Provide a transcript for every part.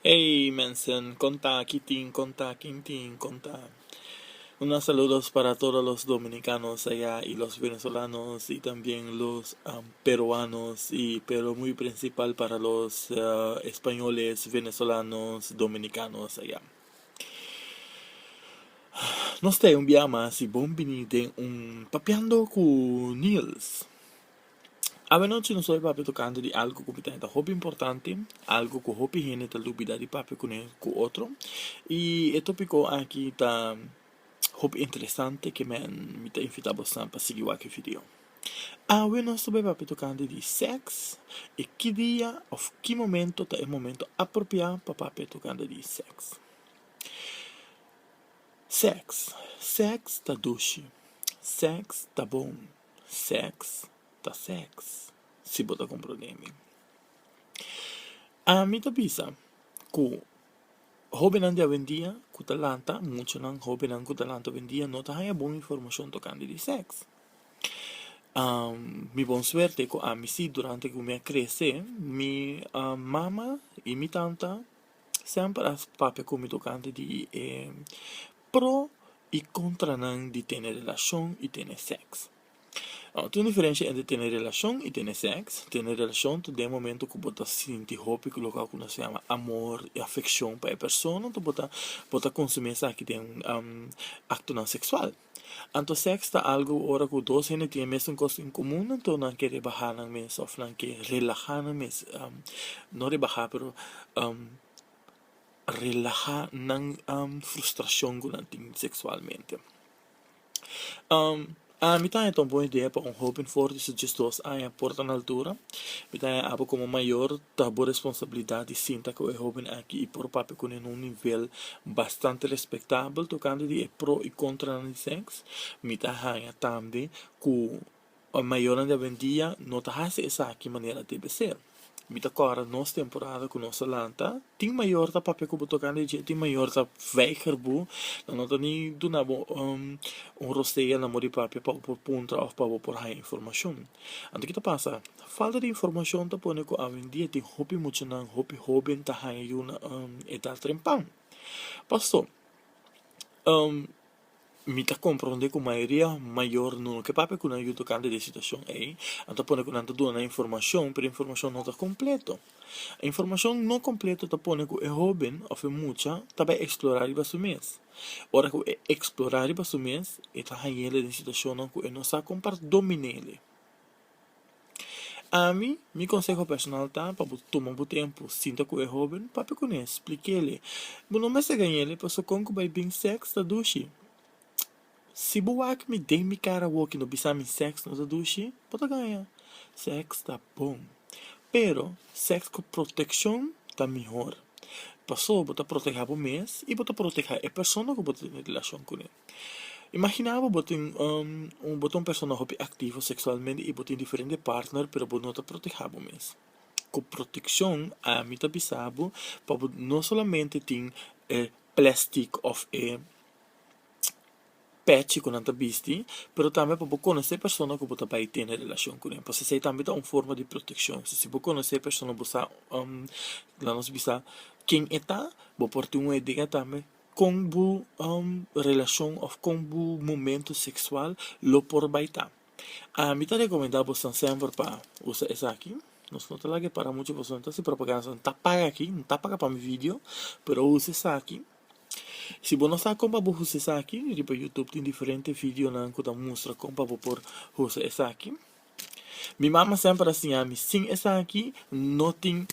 Ey mensen, kon ta, ki tin, kon ta, kin tin, kon ta. Un gran saludos para todo los dominicanos aya y los venezolanos y tambien los peruanos y pero muy principal para los españoles, venezolanos, dominicanos aya. Nos ta e un bia mas y bon bini den un Papiando cu Niels. Awanochi nos ta oye papia tocante di algo cu tin ta hopi importante, algo cu hopi hende ta lubida di papia cune cu otro, y e topico aki ta hopi interesante que men mi ta invita bosnan pa sigui wak e video. Awe nos ta bay papia tocante di sex y ki dia of ki momento ta e momento apropia pa papia tocante di sex. Sex, sex ta dushi, sex ta bon. Seks ta seks, si bo ta komprondé mi. Ami ta bisa ku hóbennan di awendia ku ta lanta, muchanan hóbennan ku ta lanta awendia no ta haña bon informashon tokante di sèks. Mi bon suerte ku ami si, durante ku mi a krese, mi mama i mi tanta semper a papia ku mi tokante di e. pro i kontra nan di tene relashon i tene sèks. Nau, tin un diferensha entre tene relashon i tene sèks. Tene relashon ta den momentu ku bo ta sinti hopi ku loke ku nos yama amor i afekshon pa e persona, anto bo ta bo ta konsumí esaki den aktonan seksual. Anto sèks ta algu ora ku dos hende tin e mesun kos en komun, anto nan ke rebahá nan mes òf nan ke relahá nan mes, no rebahá pero relaha nan frustrashon ku nan tin seksualmente ami ta haña ta un bon idea pa un hóben for di su diesdos aña por ta na altura mi ta haña abo komo mayor ta bo responsabilidat di sinta ku e hóben aki i por papia kuné na un nivel bastante respektabel tokante di e pro i kontranan di sèks mi ta haña tambe ku. Ora mayornan debe un dia no ta hasi esaki manera debe ser. Mi ta kòrda nos temporada ku nos a lanta, tin mayor ta papia ku bo toka nan i dje tin mayor ta weiger bo, nan no ta ni duna bo un rosea na modi papia pa bo por puntra òf pa bo por haña informashon. Anto kito pasa? Falta di informashon ta pone ku awendia tin hopi muchanan, hopi hoben ta haña yu na edat trempan. Paso, Mi ta komprondé ku mayoria mayor no lo ke papia ku nan yu tokante di e situashon ei. Nan ta pone ku nan ta duna nan informashon, pero e informashon no ta kompleto. E informashon no kompleto ta pone ku e hóben òf e mucha ta bai eksplorá riba su mes. Ora ku e eksplorá riba su mes, e ta hañ'é den situashonnan ku e no sa kon pa domin'é. Ami, mi konseho personal ta pa bo tuma bo tempu sinta ku e hóben, papia ku n'e, splik'el e. Bo no mester gaña'l e paso kon ku bai bin sèks ta dushi. Si bo wak mi den mi kara awoki no bisa mi sèks no ta dushi, bo ta gaña. Sèks ta bon, pero sèks ku protekshon ta mihor. Paso bo ta protehá bo mes i bo ta protehá e persona ku bo ta tene relashon kuné. Imagina bo bo tin bo ta un persona hopi aktivo seksualmente i bo tin diferente partner pero bo no ta protehá bo mes ku protekshon ami ta bisa bo pa bo no solamente tin e plastik of e pèchi ku nan ta bisti pero tambe pa bo konosé persona ku bo ta bai tene relashon ku nan p'esei tambe ta un forma di protekshon si bo konosé e persona bo sa la nos bisa ken e ta bo por tin un idea tambe. Kon bo relashon òf kon bo momentu seksual lo por bai ta? Ami ta rekomendá bosnan sèmper pa usa esaki. Nos no ta laga e para muchu pasobra no ta hasi propaganda, so no ta paga aki, no ta paga pa mi vidio, pero usa esaki. Si bo no sa kon pa bo usa esaki, riba Youtube tin diferente vidionan ku ta mustra kon pa bo por usa esaki. Mi mama sèmper a siña mi, sin esaki no tin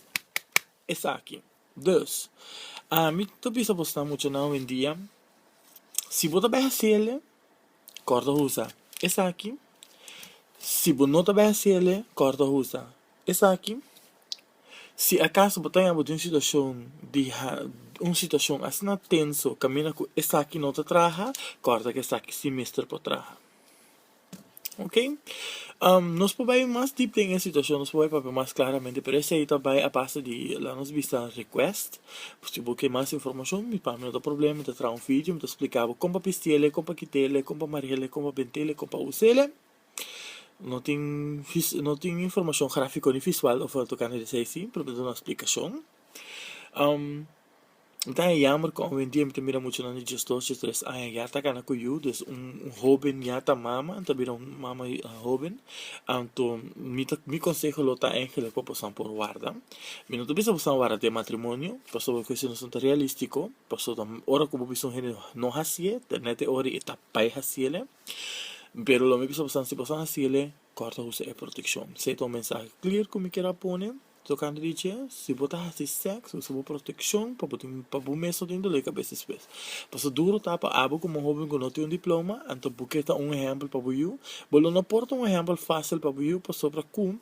esaki. Dus, ami ta bisa bo sta mucha nan owendia, si bo ta bai hasiele, kòrda usa esaki, si bo no ta bai hasiele, kòrda usa esaki. Si akas bo ta yama di un situashon di un situashon asina tenso kaminda ku esaki no ta traha, kòrda ku esaki si mester por traha. Ok. Nos por bai mas dip den e situacion, nos por bai papia mas claramente, pero esei ta bai a base di laga nos bista request, si bo ke mas informacion, mi pami no ta problema, mi ta traha un video, mi ta splica bo con pa pistele, con pa kitele, con pa marele, con pa bentele, con pa usele, no tin no tin informacion grafico ni visual offer tocante di esei sin, pero mi ta duna explicacion. N ta haña yamber cu awendia mi ta mira muchanan di dies dos, dies tres aña ya ta cana cu yu, desde un hoben ya ta mama, ta bira un mama hoben, anto mi ta, mi conseho lo ta Angela cu pasobra por warda, mi no ta bisa pasobra warda te matrimonio, pasobra cu esey no ta realistico, pasobra ora cu bo bisa un hende no haci'e, tene te ora y ta bay haciele, pero lo mi bisa pasobra si bo sa haciele, corta usa e proteccion, si ta un mensahe clear cu mi kier a pone. Tocando di dje, si bo ta haci sexo, usa bo proteccion pa bo tin, pa bo mes no tin dolor di cabes despues. Pasobra duro ta pa abo como hoben cu no tin un diploma, anto bo ke ta un ehempel pa bo yu? Bo lo no por ta un ehempel facil pa bo yu pasobra cu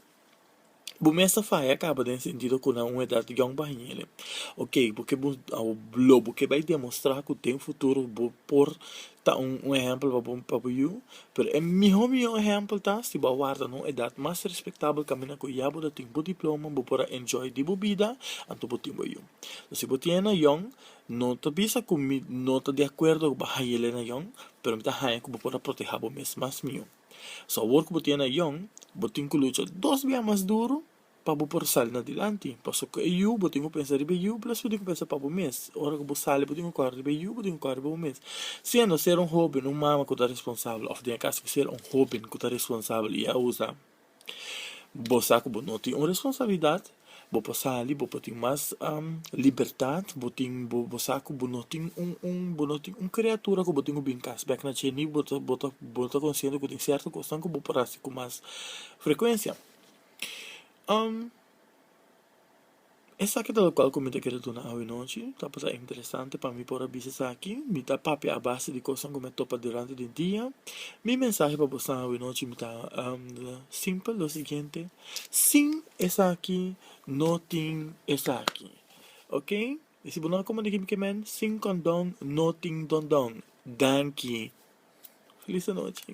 bo mes ta faya caba den sentido cu na un edad yong baha ñe'le. Ok, bo ke lo bo ke bay demostra cu den futuro bo por. Ta un ehèmpel pa bo, pa bo yu, pero e mihó mihó ehèmpel ta si bo a warda na un edat mas respektabel kaminda ku ya bo ta tin bo diploma, bo por a enjoy di bo bida, anto bo tin bo yu. So si bo tin e nayon, no ta bisa ku mi no ta di akuerdo ku bo a haña'l e nayon, pero mi ta haña ku bo por a protehá bo mes mas mihó. So awor ku bo tin e nayon, bo tin ku lucha dos bia mas duru pa bo por sali na dilanti pasobra ku e yu bo tin ku pensa riba e yu plas bo tin ku pensa pa bo mes ora ku bo sali bo tin ku kore riba e yu bo tin ku kore riba bo mes siendo ser un hoben un mama ku ta responsabel òf den e kas ku ser un hoben ku ta responsabel i a usa bo sa ku bo no tin un responsabilidat bo por sali bo por tin mas libertat bo tin bo bo sa ku bo no tin un un bo no tin un kreatura ku bo tin ku bin kas bèk na che ni bo ta bo ta bo ta konsiente ku tin sierto kosnan ku bo por hasi ku mas frekuensia. esaki ta lokual ku mi ta kere duna awinochi ta pasá interesante pa mi por a bisa esaki mi ta papia a base di kosnan ku mi a topa durante di dia mi mensahe pa bosnan awinochi mi ta simpel lo siguiente sin esaki no tin esaki okay i si bo no a komandá kimi ke men sin kondon no tin dondon danki felis anochi.